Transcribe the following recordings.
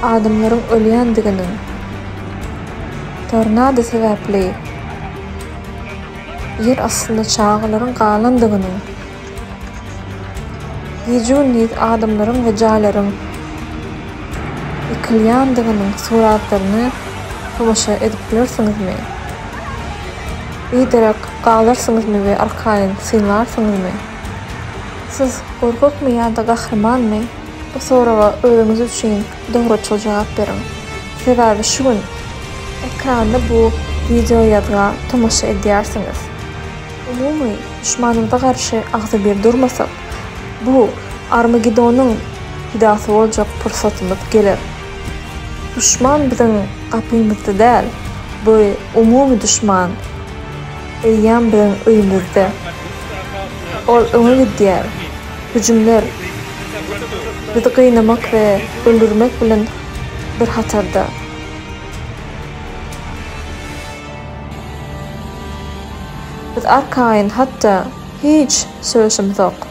Adamlaryň ölýändigini, tornado sebäpli Ýer astynda çagalaryň galandygyny, gije-gündiz adamlaryň we jaýlaryň ýykylýandygynyň suratlaryna tomaşa edip bilersiňizmi? Biderek galarsyňyzmy we arkaýyn synlarsyňyzmy? Siz gorkakmy ýa-da gahrymanmy? Bu soraga özüňiz üçin dogruçyl jogap beriň. Sebäbi şu gün ekranda bu wideoýazga tomaşa edýärsiňiz. Umumy duşmanymyza garşy agzybir durmasak, bu Armagedonyň pidasy boljak pursatymyz geler. Duşman biziň gapymyzda däl, bu umumy duşman eýýäm biziň öýümizde. Ol öňe gidýär. hüjümler bizi gynamak we öldürmek bilen bir hatarda, biz arkaýyn, hatda hiç söýşümzok.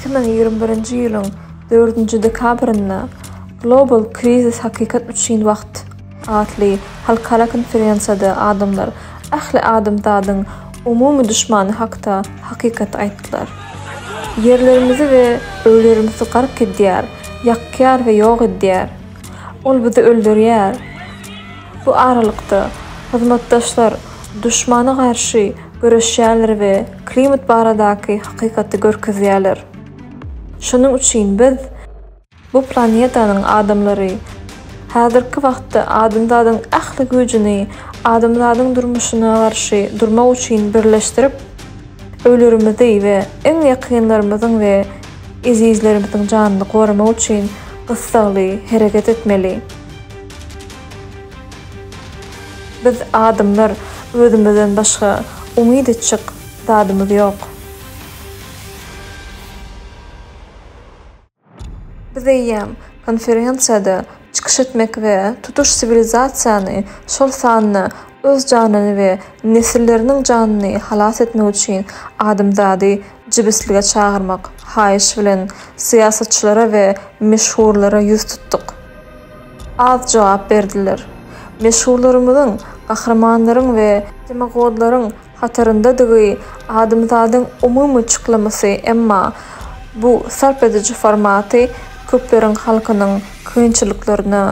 Iki müň ýigrimi birinji ýylyň dördünji dekabrynda Global Krizis Hakykat üçin wagt atly halkara konferensiýada adamlar ähli adamzadyň umumy duşmany hakda hakykaty aýtdylar. Ýerlerimizi we öýlerimizi gark edýär, ýakýar we ýok edýär. Ol bizi öldürýär. Bu aralykda, hyzmatdaşlar, duşmana garşy göreşýärler we klimat baradaky hakykaty görkezýärler. Şonuň üçin biz. Bu planetanyň adamlary häzirki wagtda adamzadyň ähli güýjüni adamzadyň durmuşyna garşy durmak üçin birleşdirip, öýlerimizi we iň ýakynlarymyzyň we ezizlerimiziň janyny goramak üçin gyssagly hereket etmeli. Biz adamlar özümizden başga umyt etjek zadymyz ýok. Biz eýýäm konferensiýada çykyş etmek we tutuş siwilizasiýany şol sanda öz janyny we nesilleriniň janyny halas etmek üçin adamzady jibislige çagyrmak haýyş bilen syýasatçylara we meşhurlara ýüz tutduk. Az jogap berdiler. Meşhurlarymyzyň, gahrymanlaryň we demagodlaryň hataryndadygy adamzadyň umumy çyklamasy emma bu sarp ediji formaty köpleriň halkynyň kynçylyklaryna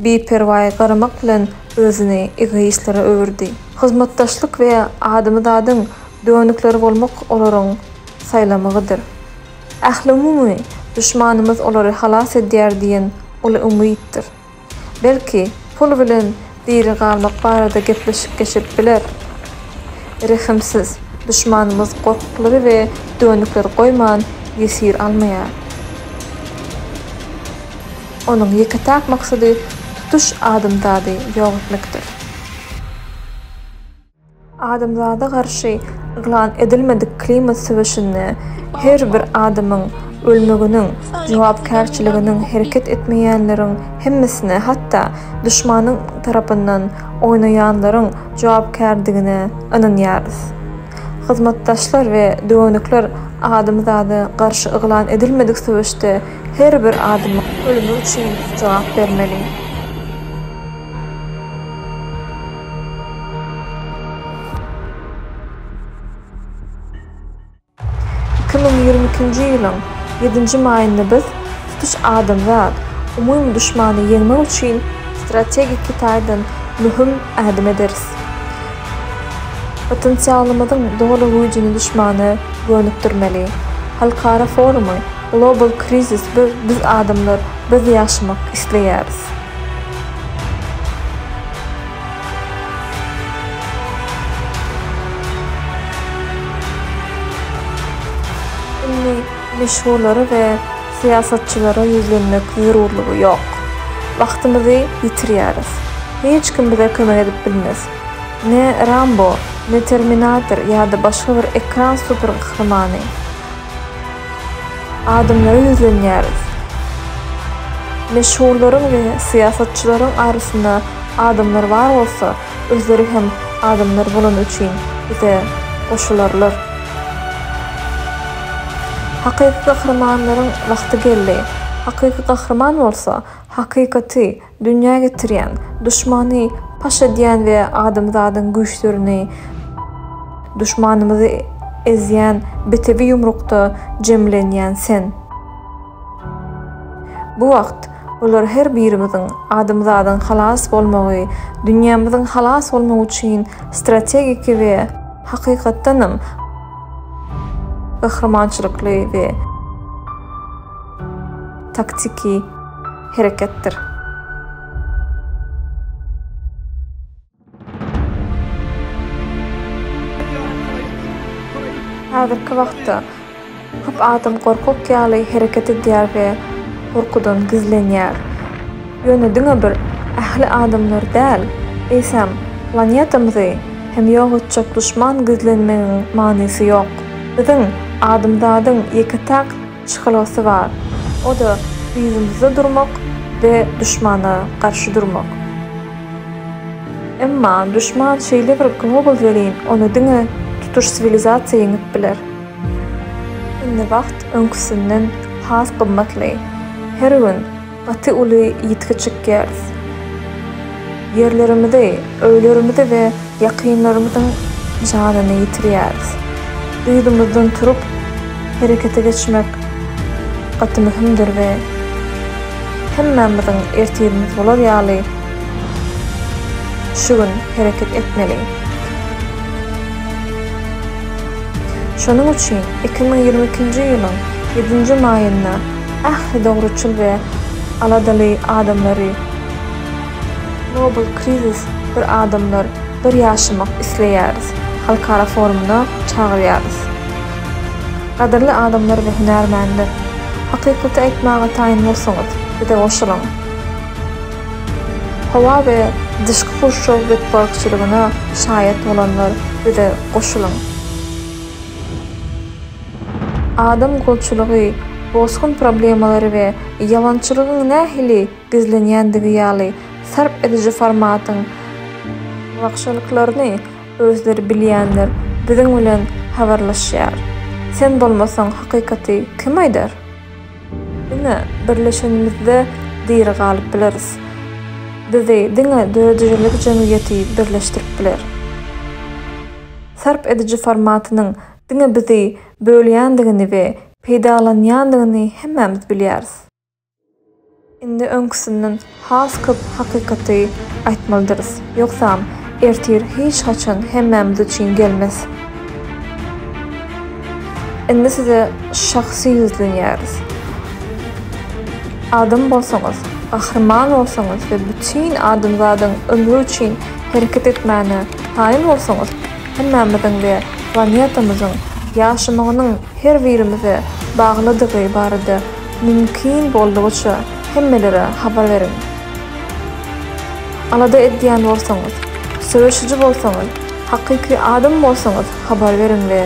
biperwaý garamak bilen özüni egoistlere öwürdi. Hyzmatdaşlyk we adamzadyň dönükleri bolmak olaryň saýlamagydyr. Ählumumy, duşmanymyz olary halas edýär diýen uly umytdyr. Belki, pul bilen diri galmak barada gepleşik geçip biler. Rehimsiz, duşmanymyz gorkuklary we dönükleri goýman ýesir almaýar. Onuň ýeke-täk maksady tutuş adamzady ýok etmekdir. Adamzada garşy yglan edilmedik klimat söweşinde her bir adamyň ölmeginiň jogapkärçiliginiň hereket etmeýänleriň hemmesine, hatda duşmanyň tarapyndan oýnaýanlaryň jogapkärdigine ynanýarys. Hyzmatdaşlar we döwendikler adamzada garşy yglan edilmedik söweşde her bir adamyň ölümi üçin jogap bermeli. Iki müň ýigrimi ikinji ýylyň ýedinji maýynda biz tutuş adamzat umumy duşmany ýeňmek üçin strategiki taýdan möhüm ädim ederis. Potensialymyzyň doly güýjüni duşmana gönükdirmeli. Halkara forumy Global Krizis bir biz adamlar biz ýaşamak isleýäris. Indi meşhurlara we syýasatçylara ýüzlenmek zerurlygy ýok. Wagtymyzy ýitirýäris. Hiç kim bize kömek edip bilmez. Ne Rambo, ne Terminator ýa-da başga bir ekran supergahrymany. Adamlara ýüzlenýäris. Meşhurlaryň we syýasatçylaryň arasynda adamlar bar bolsa, özleri hem adamlar bolany üçin bize goşularlar. Hakyky gahrymanlaryň wagty geldi. Hakyky gahryman bolsa, hakykaty, Dünýä getirýän, duşmany paş edýän we adamzadyň güýçlerini, duşmanymyzy ezýän bitewi ýumrukda jemlenýän Sen. Bu wagt bular her birimiziň, adamzadyň halas bolmagy, dünýämiziň halas bolmagy üçin strategiki we hakykatdanam gahrymançylykly we. taktiki hereketdir. Häzirki wagtda köp adam gorkak ýaly hereket edýär we gorkudan gizlenýär. Ýöne diňe bir ähli adamlar däl, eýsem, planetamyzy hem ýok etjek duşman gizlenmegiň manysy ýok. Biziň, adamzadyň ýeke-täk Çykalgasy bar. O-da yzymyzda durmak we duşmana garşy durmak. Emma duşman şeýle bir global welin, ony diňe tutuş siwilizasiýa ýeňip biler. Indi wagt öňküsinden has gymmatly. Her gün Gaty uly ýitgi çykýarys. Ýerlerimizi, öýlerimizi we ýakynlarymyzyň janyny ýitirýäris. Yzymyzdan turup, herekete geçmek gaty möhümdir we hemmämiziň ertirimiz bolar ýaly şu gün hereket etmeli. Şonuň üçin iki müň ýigrimi ikinji ýylyň ýedinji maýynda, Ähli dogruçyl we aladaly adamlary Global Krizis Bir adamlar, bir ýaşamak isleýäris! halkara forumyna çagyrýarys. Gadyrly adamlar we hünärmenler! Hakykaty aýtmaga taýyn bolsaňyz, bize goşulyň! Howa we Dyşky gurşaw betbagtçylygyna şaýat bolanlar, bize goşulyň! Adam golçulygy, bosgun problemalary we ýalançylygyň nähili gizlenýändigi ýaly sarp ediji formatyň wagşalyklaryny özleri bilýänler biziň bilen habarlaşýar. Sen bolmasaň hakykaty kim aýdar? Diňe birleşenimizde diri galyp bileris. Bizi diňe döredijilik jemgyýeti birleşdirip biler. Sarp ediji formatynyň Diňe bizi bölýändigini we peýdalanýandygyny hemmämiz bilýäris. Indi öňküsinden has köp hakykaty aýtmalydyrys, ýogsam, ertir hiç haçan hemmämiz üçin gelmez. Indi size şahsy ýüzlenýäris. Adam bolsaňyz, gahryman bolsaňyz we bütin adamzadyň ömri üçin hereket etmäne kaýyl bolsaňyz, hemmämiziň we planetamyzyň ýaşamagynyň her birimize baglydygy barada mümkin boldugyça hemmelere habar beriň. Alada edýän bolsaňyz, söweşiji bolsaňyz, hakyky adam bolsaňyz habar beriň we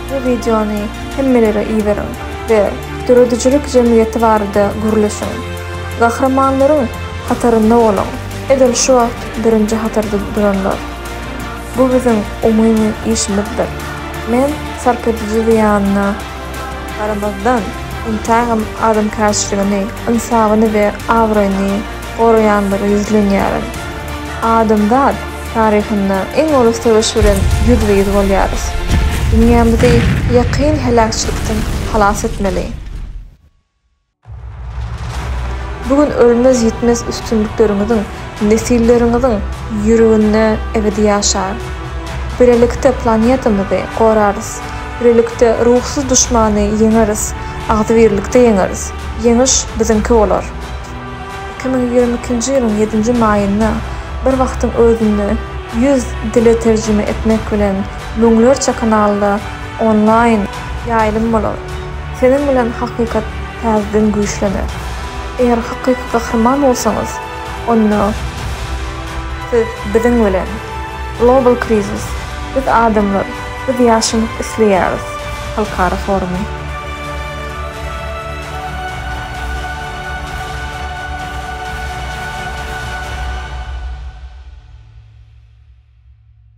bu wideony hemmelere iberiň we döredijilik jemgyýeti barada gürleşiň. Gahrymanlaryň hatarynda boluň. Edil şu wagt birinji hatarda duranlar. Bu biziň umumy işimizdir. Men sarp ediji zyýanyna garamazdan, entägem adamkärçiligini, ynsabyny we abraýyny goraýanlara ýüzlenýärin. Adamzat taryhynda iň uly söweş bilen ýüzbe-ýüz bolýarys. Dünýämizi ýakyn heläkçilikden halas etmeli. Bu gün ölmez-ýitmez üstünlikleriňiziň nesilleriňiziň ýüreginde ebedi ýaşar. Bilelikde planetamyzy gorarys, bilelikde ruhsyz duşmany ýeňeris, agzybirlikde ýeňeris, ýeňiş biziňki bolar! Iki müň ýigrimi ikinji ýylyň ýedinji maýynda bir wagtyň özünde ýüz dile terjime etmek bilen, müňlerçe kanalda Onlaýn ýaýlym bolar. Seniň bilen hakykat täzeden güýçlener. Eger hakyky gahryman bolsaňyz, onda siz biziň bilen. Global Krizis, Biz adamlar, biz ýaşamak isleýäris halkara forumy.